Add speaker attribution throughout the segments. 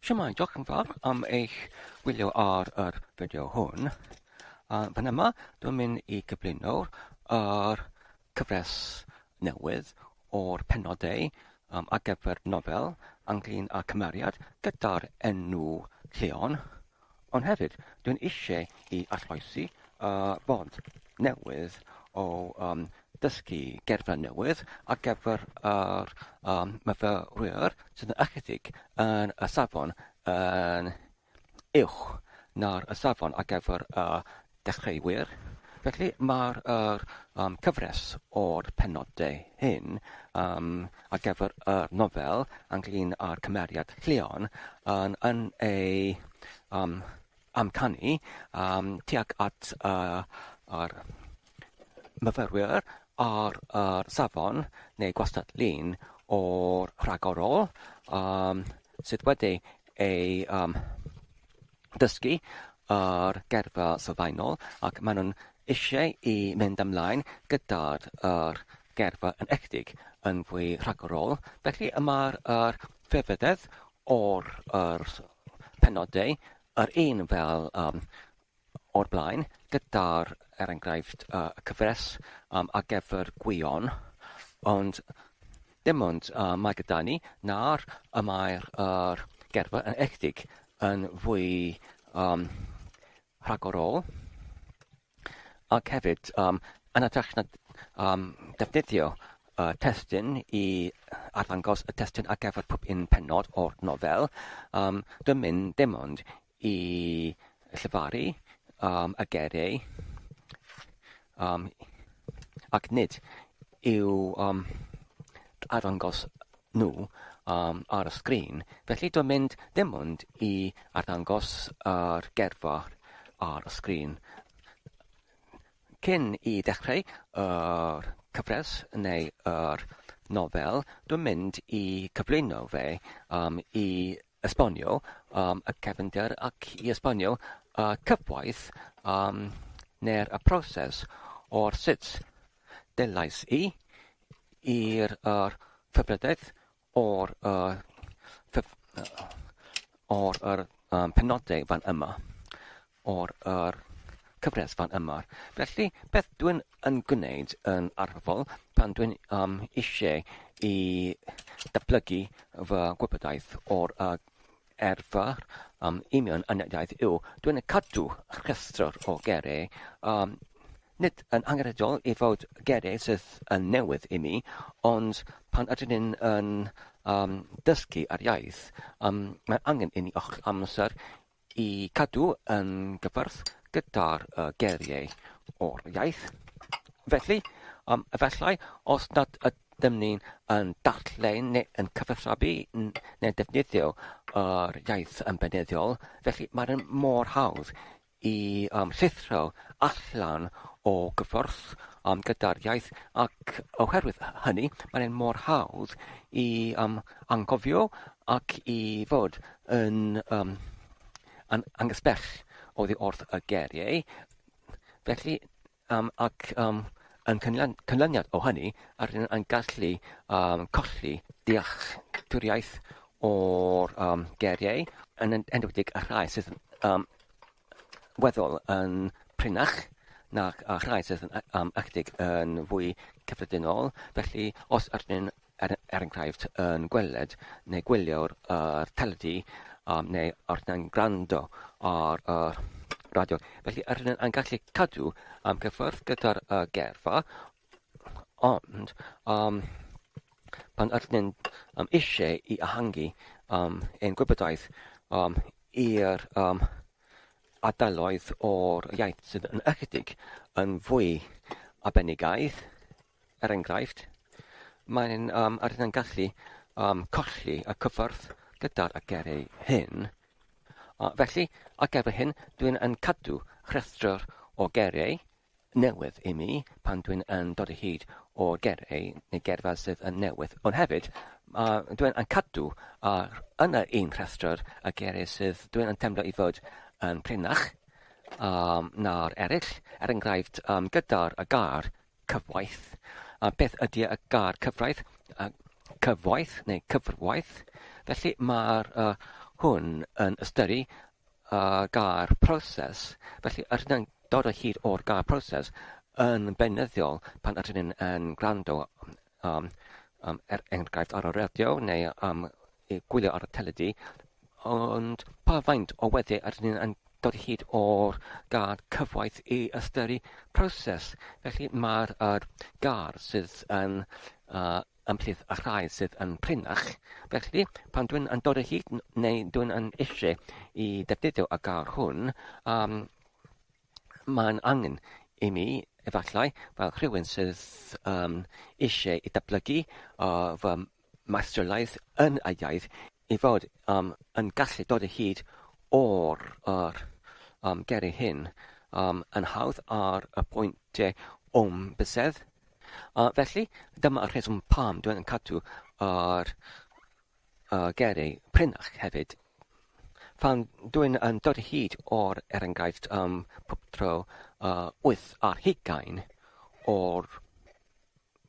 Speaker 1: Siamai, diolch yn fawr am eich gwylio ar yr fideo hwn. A fan yma, dwi'n mynd i gyflwyno'r er cyfres newydd o'r penodau um, ar gyfer nofel Anglin a Cymeriad gyda'r enw Lleon. Ond hefyd, dwi'n eisiau i arloesi y ffordd newydd o um, dysgu gerdded newydd ar gyfer yr um, myfyrwyr sydd yn ychydig yn y safon yn uwch na'r y safon ar gyfer y dechreuwyr, felly mae'r yr yym cyfres o'r penodau hyn yym ar gyfer y nofel ynglyn â'r cymeriad Llion yn yn ei yym amcanu yym tuag at y yr myfyrwyr ar yr safon neu gwastad-lun o'r rhagorol yym sydd wedi ei yym dysgu ar gyrfa sylfaenol ac maen nhw'n eisiau i mynd ymlaen gyda'r yr gerfa yn echddig yn fwy rhagorol. Felly y mae'r yr ffefydedd o'r yr penodau yr un fel um, o'r blaen gyda'r er enghraifft uh, cyfres um, a gefr gwion ond Dim ond y Magadani nawr y mae'r yr gerfydd yn echdig yn fwy um, rhagorol ac hefyd um, yn ytrach na um, defnyddio uh, testyn i arddangos y testyn ar gyfer pob un penod o'r nofel, um, dwi'n mynd dim ond i llefaru um, y gereu, um, ac nid i'w um, arddangos nhw um, ar y sgrin. Felly dwi'n mynd ddim ond i arddangos yr gerfa ar y sgrin. Cyn i ddechrau yr cyfres neu yr nofel, dwi'n mynd i cyflwyno fe um, i esbonio um, y cefnder ac i esbonio y cyfoeth um, neu'r y proses o'r sut delais i i'r er, cyfredaeth o'r uh, cyf, uh, o'r er, um, penodau fan yma. o'r yr cyfres fan yma. Felly, beth dwi'n yn gwneud yn arferol pan dwi'n um, eisiau i datblygu fy gwybodaeth o'r uh, erfa um, union anediaeth yw, dwi'n cadw rhestr o gerau um, nid yn angenrheidiol i fod gerau sydd yn newydd i mi, ond pan ydyn ni'n yn, um, dysgu ar iaith, um, mae angen i ni ochr amser I gadw yn gyfrth gyda'r geiriau o'r iaith. Felly, um, efallai, os nad ydym ni'n yn darllen neu yn cyfathrebu neu'n defnyddio yr iaith yn beneddol, felly mae'n mor hawdd i um, llithro allan o gyfrth um, gyda'r iaith ac oherwydd hynny mae'n mor hawdd i um, anghofio ac i fod yn yym yn angysbell oddi wrth y geriau. Felly, um, ac um, yn cynlun, cynlyniad o hynny, ar hyn yn gallu um, colli dealltwriaeth o'r um, geriau, yn enwedig y rhai sydd um, weddol yn prinach nac a rhai sydd yn am ychydig yn fwy cyffredinol. Felly, os ydyn er, er enghraifft yn gweled neu gwylio'r uh, teledu um, neu ar yn gwrando ar y uh, radio. Felly, ydyn yn gallu cadw am cyffwrdd gyda'r uh, gerfa, Ond, um, pan ydyn ni'n um, eisiau i ehangu um, ein gwybodaeth um, i'r um, adaloedd o'r iaith sydd yn ychydig yn fwy abenigaidd, er enghraifft, mae'n um, ar yn gallu um, colli y cyffordd gyda'r agerau hyn. Uh, felly, ac efo hyn, dwi'n yn cadw rhestr o gerau newydd i mi pan dwi'n yn dod o hyd o gerei neu gerdded sydd yn newydd. Ond hefyd, uh, dwi'n yn cadw ar, yn yr un rhestr y gerei sydd dwi'n yn temlo i fod yn prinach um, na'r eraill. Er enghraifft, um, gyda'r y gar cyfwaith. A beth ydy y gar cyfraith? Uh, cyfwaith neu cyfrwaith. Felly mae'r uh, hwn yn ystyru a gair proses, felly rydyn ni'n dod o hyd o'r gair proses yn beunyddiol pan ydyn ni'n yn gwrando um, um, er enghraifft ar y radio neu um, gwylio ar y teledu, ond pa faint o weddi ydyn ni'n yn dod o hyd o'r gair cyfoeth i ystyru proses. Felly mae'r er, gair sydd yn uh, ymhlith y rhai sydd yn prinach, felly pan dwi'n yn dod o hyd neu dwi'n yn eisiau i ddefnyddio y gair hwn, um, mae'n angen i mi, efallai, fel rhywun sydd um, eisiau i dyblygu uh, fy maestrolaeth yn y iaith, i fod um, yn gallu dod o hyd o'r er, um, geri hyn um, yn hawdd ar y pwynt o'm bysedd. Uh, felly, dyma y rheswm pam dwi'n cadw ar uh, gerau prenach hefyd. Pan dwi'n yn dod hyd o'r er enghraifft um, pob tro uh, 8 ar hugain o'r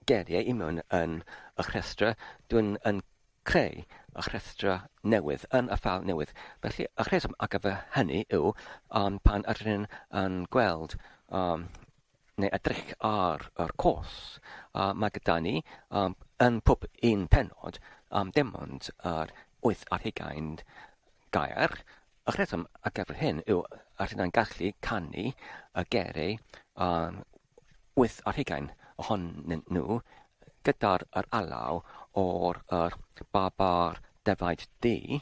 Speaker 1: geriau i mewn yn y rhestra, dwi'n yn creu y rhestra newydd yn y ffal newydd. Felly, y rheswm ar gyfer hynny yw um, pan ydyn yn gweld um, neu edrych ar yr cwrs a mae gyda ni um, yn pob un penod am um, dim ond yr wyth ar hugain gair. Y rheswm a gyfer hyn yw a rydyn ni'n gallu canu y gerau um, wyth ar hugain ohonyn nhw gyda'r alaw o'r babar defaid di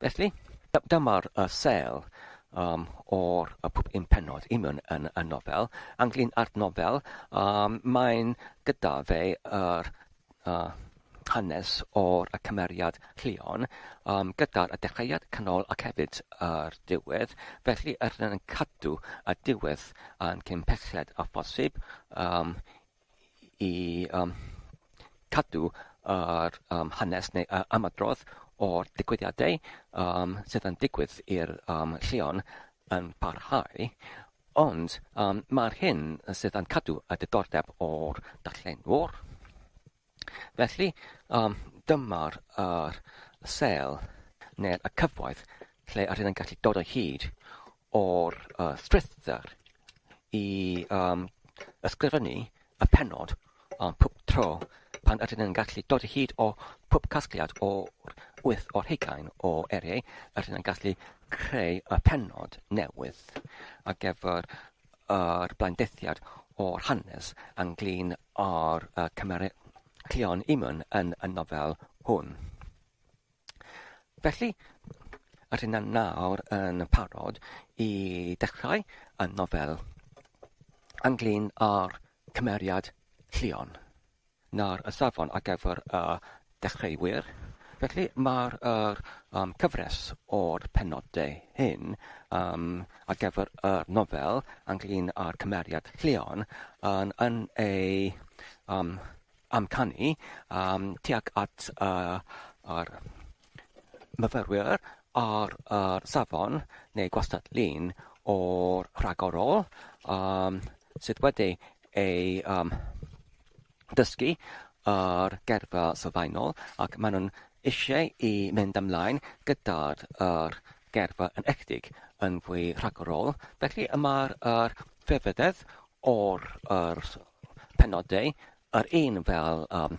Speaker 1: Felly, dyma'r sêl o'r pum pennod i mewn yn y nofel. Ynglyn â'r nofel, mae'n gyda fe yr hanes o'r cymeriad Llion, gyda'r dechreuad, canol ac hefyd yr diwedd. Felly, yr hyn yn cadw y diwedd yn cyn pelled â phosib i um, cadw yr um, hanes neu uh, ymadrodd o'r digwyddiadau um, sydd yn digwydd i'r um, lleon yn parhau, ond um, mae'r hyn sydd yn cadw y diddordeb o'r darllenwr. Felly, um, dyma'r uh, sel neu'r cyfoedd lle yr hyn yn gallu dod o hyd o'r uh, strwythur i um, ysgrifennu y penod um, pob tro pan ydyn ni'n gallu dod hyd o pob casgliad o'r wyth o'r hugain o eriau, ydyn ni'n gallu creu y penod newydd ar gyfer yr blaendethiad o'r hanes ynglyn â'r uh, cymeriad Cleon Eamon yn y nofel hwn. Felly, yr hyn yn nawr yn parod i dechrau y nofel ynglyn â'r cymeriad Llion. Nawr, y safon ar gyfer y dechreuwyr. Felly, mae'r er, um, cyfres o'r penodau hyn um, ar gyfer y nofel ynglyn â'r cymeriad Llion yn, yn ei um, amcanu yym tuag at yy yr myfyrwyr ar yr safon neu gwastad-lun o'r rhagorol yym sydd wedi ei yym dysgu ar gyrfa sylfaenol ac ma' nhw'n isie i mynd ymlaen gyda'r yr gyrfa yn enwedig yn fwy rhagorol felly y ma'r yr celfyddyd o'r yr penodau, yr un fel um,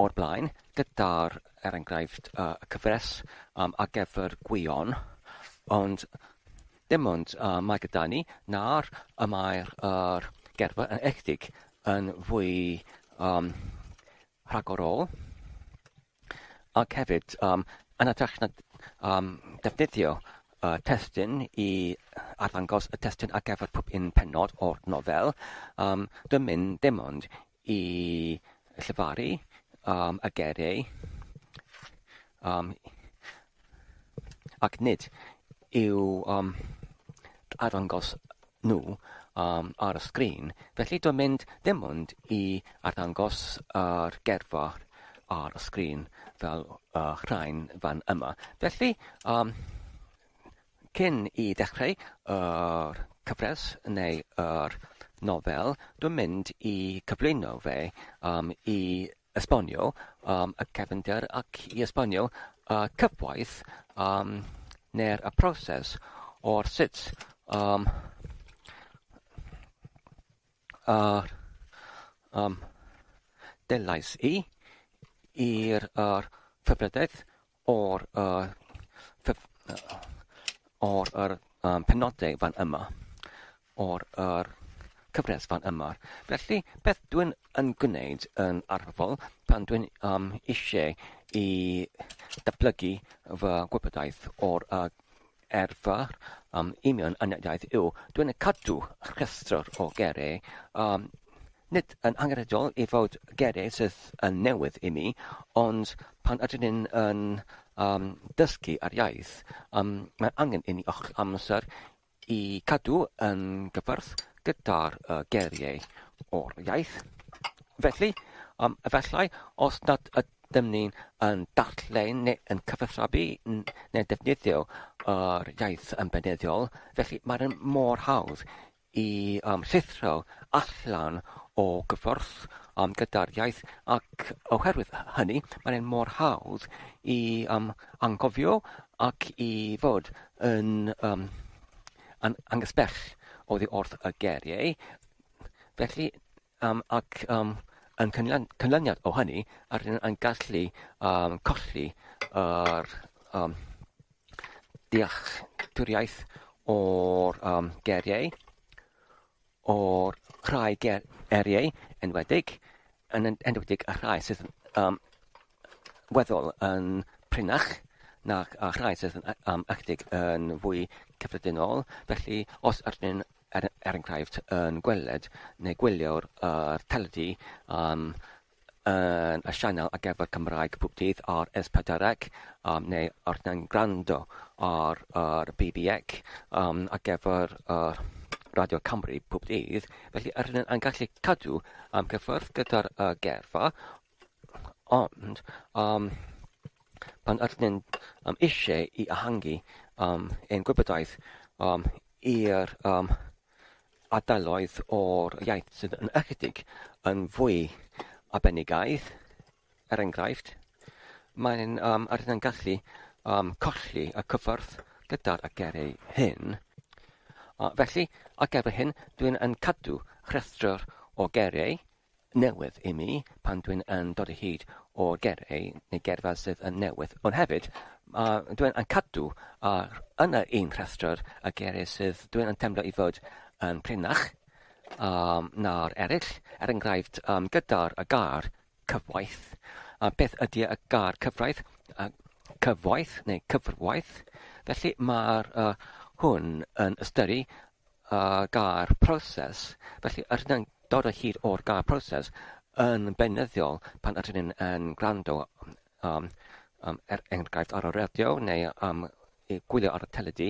Speaker 1: o'r blaen, gyda'r, er enghraifft, uh, y cyfres um, ar gyfer gwion, ond dim ond uh, mae gyda ni na'r y mae'r uh, gerfa yn echtig yn fwy um, rhagorol ac hefyd um, yn hytrach na um, defnyddio uh, testyn i arddangos y testyn ar gyfer pob un penod o'r nofel, um, dwi'n mynd dim ond i llefaru um, y gereu um, ac nid i'w um, arddangos nhw um, ar y sgrin, felly dwi'n mynd ddim ond i arddangos yr gerfa ar y sgrin fel uh, rhain fan yma. Felly, um, cyn i ddechrau yr uh, cyfres neu yr uh, nofel, dwi'n mynd i cyflwyno fe um, i esbonio um, y cefnder ac i esbonio y cyfoeth um, neu'r y proses o'r sut um, uh, um, delais i i'r uh, cyfrydaeth O'r penodau fan yma, o'r cyfres fan yma. Felly, beth dwi'n yn gwneud yn arferol pan dwi'n eisiau i datblygu fy gwybodaeth o'r arfer am union aneddiaeth yw dwyn a cadw rhestr o geiriau, a nid yn angenrheidiol i fod geiriau sydd yn newydd i mi, ond pan ydyn ni'n yn um, dysgu ar iaith, um, mae angen i ni ochr amser i cadw yn gyfyrth gyda'r uh, geiriau o'r iaith. Felly, um, efallai, os nad ydyn Dyn ni yn darllen neu yn cyfathrebu neu'n defnyddio yr iaith yn beunyddiol, felly mae e'n mor hawdd i um, llithro allan o gyfforth um, gyda'r iaith ac oherwydd hynny mae e'n mor hawdd i um, angofio ac i fod yn um, an angysbell oddi wrth y geriau. Felly, Um, ac um, yn cynlun, cynlyniad o hynny, ar rydyn yn gallu um, colli yr um, dealltwriaeth o'r um, geriau, o'r rhai ger, eriau enwedig, yn enwedig y rhai sydd um, weddol yn prinach na'r rhai sydd yn um, ychydig yn fwy cyffredinol. Felly, os ydyn er enghraifft yn gweled neu gwylio'r yr teledu yym yn y sianel ar gyfer Cymraeg pob dydd ar S4C um, neu ar yn gwrando ar yr BBX um, ar gyfer yr Radio Cymru pob dydd, felly yr hyn yn gallu cadw am gyffwrdd gyda'r uh, gerfa, Ond, um, pan ydyn ni'n um, eisiau i ehangu um, ein gwybodaeth um, i'r um, adaloedd o'r iaith sydd yn ychydig yn fwy abenigaidd, er enghraifft, mae'n um, ar yn gallu um, colli y cyffordd gyda'r agerau hyn. Uh, felly, ar gyfer hyn, dwi'n yn cadw rhestr o gerau newydd i mi pan dwi'n yn dod o hyd o gerei neu gerdded sydd yn newydd ond hefyd a dwi'n yn cadw a yn yr un rhestr y gerei sydd dwi'n yn temlo i fod yn prinach um, na'r eraill er enghraifft um, gyda'r y gar cyfwaith a beth ydy y gar cyfraith a cyfwaith neu cyfrwaith felly mae'r uh, hwn yn ystyru a gair proses, felly rydyn ni'n dod o hyd o'r gair proses yn beunyddiol pan ydyn ni'n yn gwrando um, um, er enghraifft ar y radio neu um, i gwylio ar y teledu,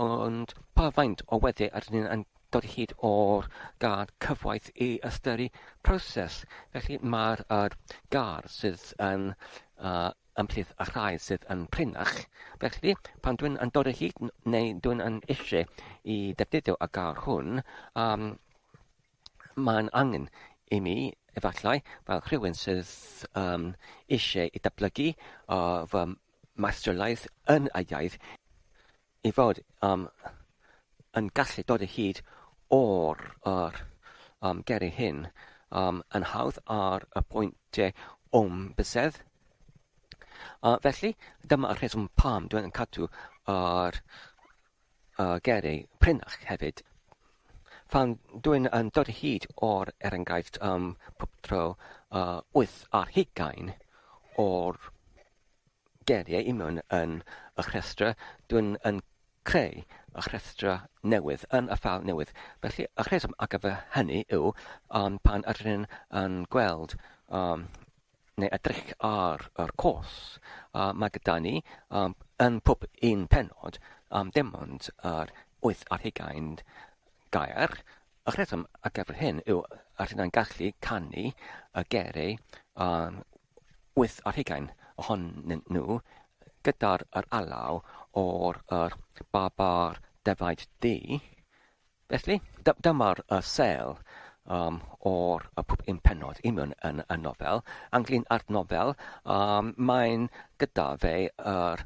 Speaker 1: ond pa faint o weddi ydyn ni'n yn dod o hyd o'r gair cyfoeth i ystyru proses. Felly mae'r er, gair sydd yn uh, ymhlith y rhai sydd yn prinach. Felly, pan dwi'n yn dod o hyd neu dwi'n yn eisiau i ddefnyddio y gair hwn, um, mae'n angen i mi efallai fel rhywun sydd um, eisiau i dyblygu uh, fy maestrolaeth yn y iaith ei fod um, yn gallu dod o hyd o'r er, um, geri hyn um, yn hawdd ar y pwyntiau o'm bysedd. Uh, felly, dyma y rheswm pam dwi'n cadw ar uh, geri prinach hefyd. Pan dwi'n yn dod hyd o'r er enghraifft um, pob tro uh, wyth ar hugain o'r geiriau i mewn yn y rhestrau, dwi'n yn creu y rhestrau newydd yn y ffeil newydd. Felly, y rheswm ar gyfer hynny yw um, pan ydyn ni'n yn gweld um, neu edrych ar yr cwrs, uh, mae gyda ni um, yn pob un penod um, dim ond yr wyth ar hugain gair, Y rheswm ar gyfer hyn yw y rydyn yn gallu canu y gerei am wyth ar hugain ohonyn nhw gyda'r yr alaw o'r yr babar defaid du. Felly, dy- dyma'r y sel um, o'r y pwp un penod i mewn yn y nofel. Ynglyn â'r nofel, um, mae'n gyda fe yr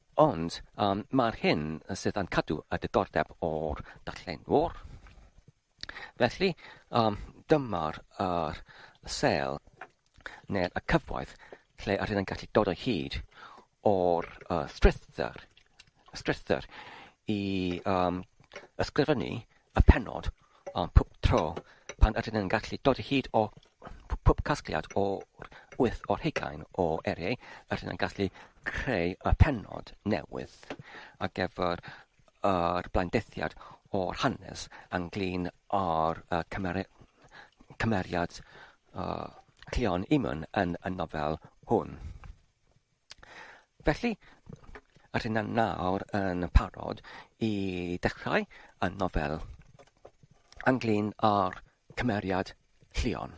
Speaker 1: Ond mae'r hyn sydd yn cadw y diddordeb o'r darllenwr. Felly, dyma'r yr sel neu'r y cyfoeth lle yr hyn yn gallu dod o hyd o'r uh, strythyr, strythyr i um, ysgrifennu y penod Ond pob tro pan ydyn yn gallu dod o hyd o pob casgliad o'r wyth o'r hugain o eriau, ydyn yn gallu creu y penod newydd ar gyfer yr blaendethiad o'r hanes ynglyn â'r cymeriad Cleon Eamon yn y nofel hwn. Felly, yr hyn yn nawr yn parod i dechrau y nofel ynglyn â'r cymeriad Llion.